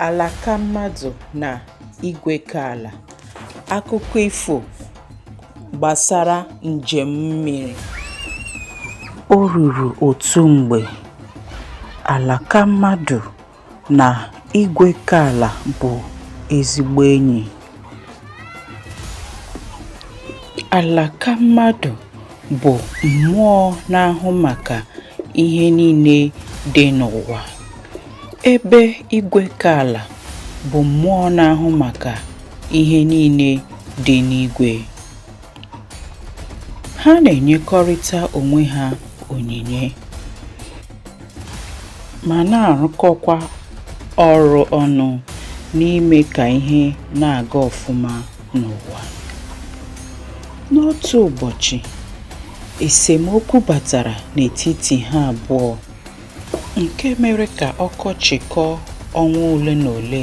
Alakammadụ na Igwekaala. Akụkọ ifo gbasara njem mmiri. O ruru otu mgbe, Alakammadụ na Igwekaala bụ ezigbo enyi. Alakammadụ bụ mmụọ na-ahụ maka ihe niile dị n'ụwa, ebe Igwekaala bụ mmụọ na-ahụ maka ihe niile dị n'igwe. Ha na-enyekọrịta onwe ha onyinye ma na-arụkọkwa ọrụ ọnụ n'ime ka ihe na-aga ọfụma n'ụwa. N'otu ụbọchị, esemokwu batara n'etiti ha abụọ nke mere ka ọkọchị kọọ ọnwa ole na ole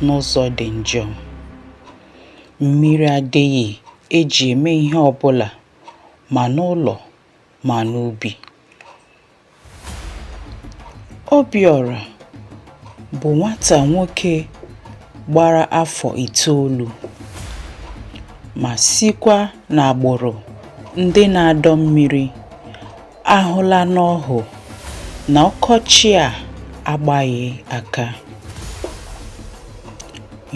n'ụzọ dị njọ. Mmiri adịghị eji eme ihe ọbụla ma n'ụlọ ma n'ubi. Obiọra bụ nwata nwoke gbara afọ itoolu ma sikwa n'agbụrụ ndị na-adọ mmiri ahụla n'ọhụ na ọkọchị a agbaghị aka.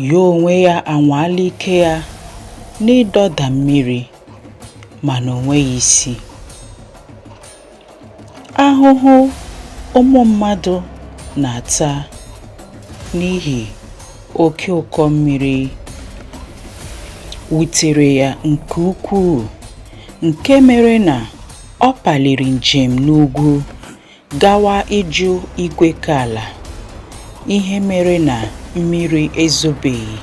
Ya onwe ya anwaala ike ya n'ịdọda mmiri mana o nweghị isi. Ahụhụ ụmụ mmadụ na-ata n'ihi oke ụkọ mmiri wutere ya nke ukwuu nke mere na Ọ paliri njem n'ugwu gawa ịjụ Igwekaala ihe mere na mmiri ezobeghị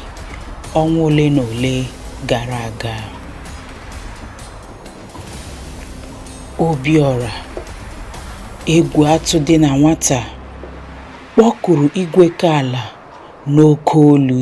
ọnwa ole na ole gara aga. Obiọra, egwu atụ dị na nwata, kpọkuru Igwekaala n'oke olu.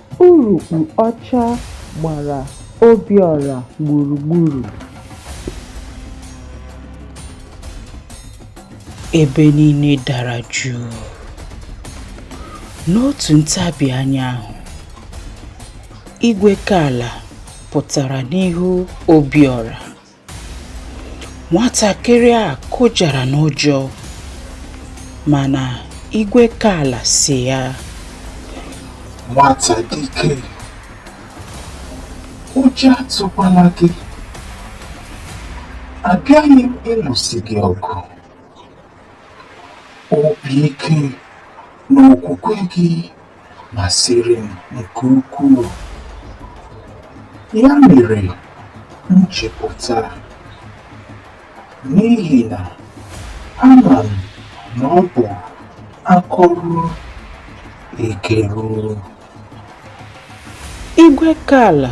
Urukpu ọcha gbara Obiọra gburugburu. Ebe niile dara jụụ. N'otu ntabi anya ahụ, Igwekaala pụtara n'ihu Obiọra. nwatakịrị a kụjara n'ụjọ mana Igwekaala sị ya nwata dike ụjọ atụkwala gị abịaghị m ịlụsi gị ọgụ obi ike na okwukwe gị masịrị m nke ukwuu. Ya mere m ji pụta n'ihi na ama m na ọ bụ akọrụ ekeruru. Igwekaala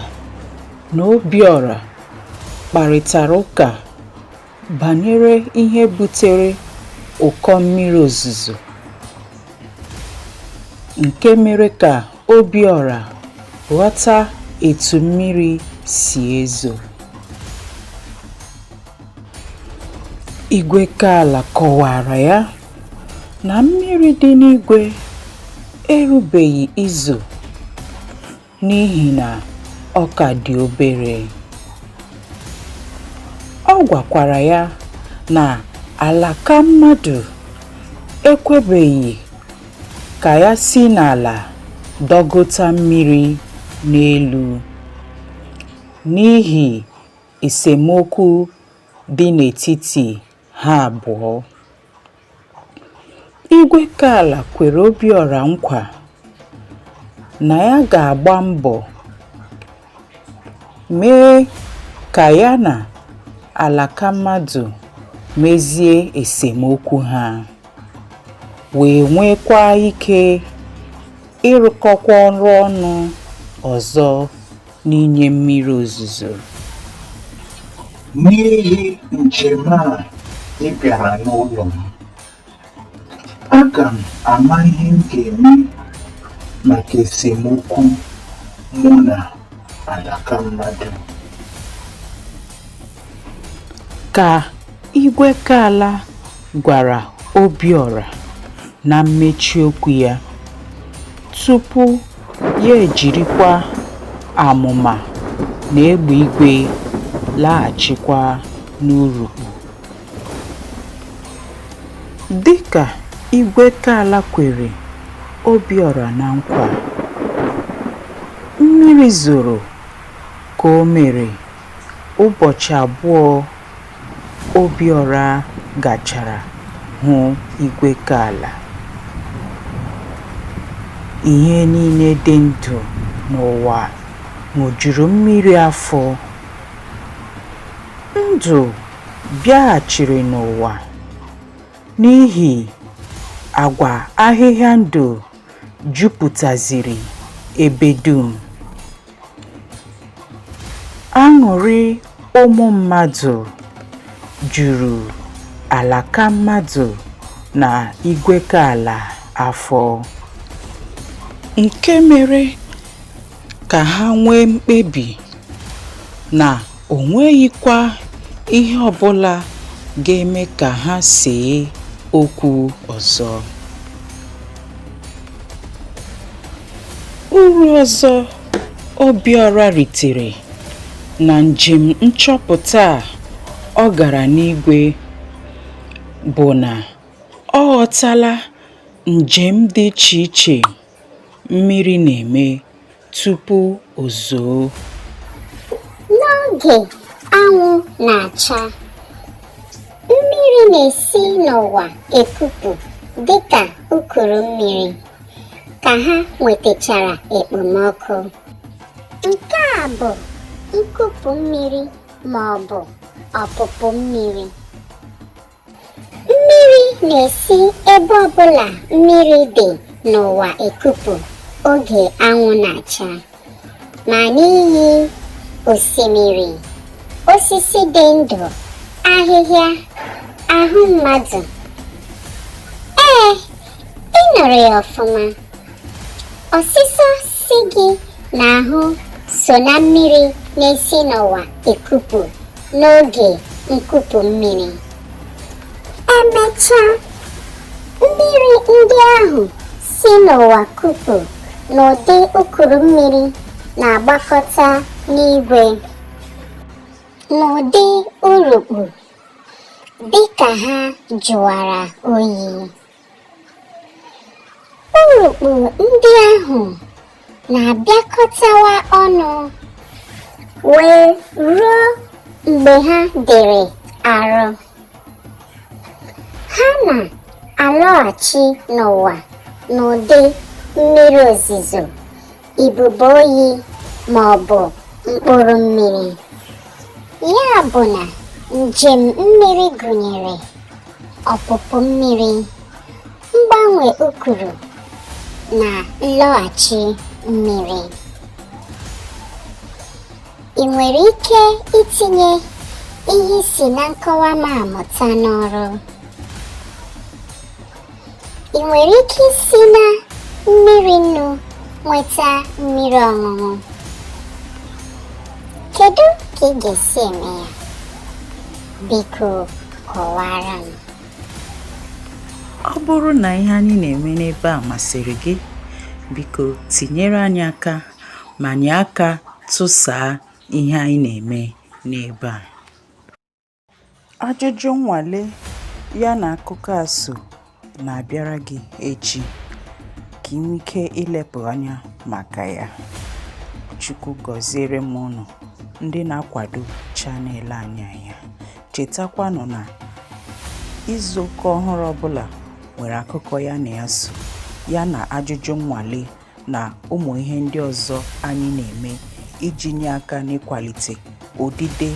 na Obiọra kparịtara ụka Banyere ihe butere ụkọ mmiri ozuzo nke mere ka Obiọra ghọta etu mmiri si ezo. Igwekaala kọwaara ya na mmiri dị n'igwe erubeghị izo n'ihi na ọ ka dị obere. Ọ gwakwara ya na Alakammadụ ekwebeghị ka ya si n'ala dọgota mmiri n'elu n'ihi esemokwu dị n'etiti ha abụọ. Igwekaala kwere Obiọra nkwa na ya ga-agba mbọ mee ka ya na Alakammadụ mezie esemokwu ha wee nwekwa ike ịrụkọkwa ọrụ ọnụ ọzọ. n'inye mmiri ozuzo n'ihi njem a ị bịara n'ụlọ m aga m ama ihe m ga-eme maka esemokwu mụ na Alakammadụ ka Igwekaala gwara Obiọra na mmechi okwu ya tupu Ya ejirikwa amụma na egbe igwe laghachikwa n'urukpu. Dịka Igwekaala kwere Obiọra na nkwa, mmiri zoro ka o mere ụbọchị abụọ Obiọra gachara hụ Igwekaala. Ihe niile dị ndụ n'ụwa ṅụjuru mmiri afọ. Ndụ bịaghachiri n'ụwa n'ihi agwa ahịhịa ndụ jupụtaziri ebe dum. Aṅụrị ụmụ mmadụ juru Alakammadụ na Igwekaala afọ, nke mere ka ha nwee mkpebi na o nweghịkwa ihe ọbụla ga-eme ka ha see okwu ọzọ. Uru ọzọ Obiọra ritere na njem nchọpụta a ọ gara n'igwe bụ na ọ ghọtala njem dị iche iche Mmiri na-eme tupu o zoo. N'oge anwụ na-acha, mmiri na-esi n'ụwa ekupu dịka ukuru mmiri ka ha nwetachara ekpomọkụ. Nke a bụ nkupu mmiri ma ọ bụ ọpụpụ mmiri. mmiri na-esi ebe ọbụla mmiri dị n'ụwa ekupu oge anwụ na-acha ma n'iyi osimiri osisi dị ndụ ahịhịa ahụ mmadụ ee ị nụrụ ya ọfụma ọsịsọ si gị n'ahụ so na mmiri na-esi n'ụwa ekupu n'oge nkupu mmiri emechaa mmiri ndị ahụ si n'ụwa kupu n'ụdị ukuru mmiri na-agbakọta n'igwe n'ụdị urukpu dịka ha jụwara oyi Urukpu ndị ahụ na-abịakọtawa ọnụ wee ruo mgbe ha dịrị arụ. Ha na-alọghachi n'ụwa n'ụdị mmiri ozizo ibubo oyi ma ọ bụ mkpụrụ mmiri ya bụ na njem mmiri gụnyere ọpụpụ mmiri mgbanwe ukuru na nlọghachi mmiri ị nwere ike itinye ihe ị si na nkọwa m a mụta n'ọrụ ị nwere ike isi na mmiri nnu nweta mmiri ọṅụṅụ kedu ka ị ga-esi eme ya biko kọwara m ọ bụrụ na ihe anyị na-eme n'ebe a masịrị gị biko tinyere anyị aka ma nye aka tụsaa ihe anyị na-eme n'ebe a Ajụjụ nnwale ya na akụkọ a so na-abịara gị echi ka i nwee ike ilepụ anya maka ya. Chukwu gọziere m unu ndị na-akwado channel anyị anya. Chetakwanụ na izu ụka ọhụrụ ọbụla nwere akụkọ ya na ya so, ya na ajụjụ nnwale na ụmụ ihe ndị ọzọ anyị na-eme iji nye aka n'ịkwalite odide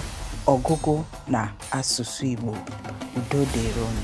ọgụgụ na asụsụ Igbo udo dịrị unu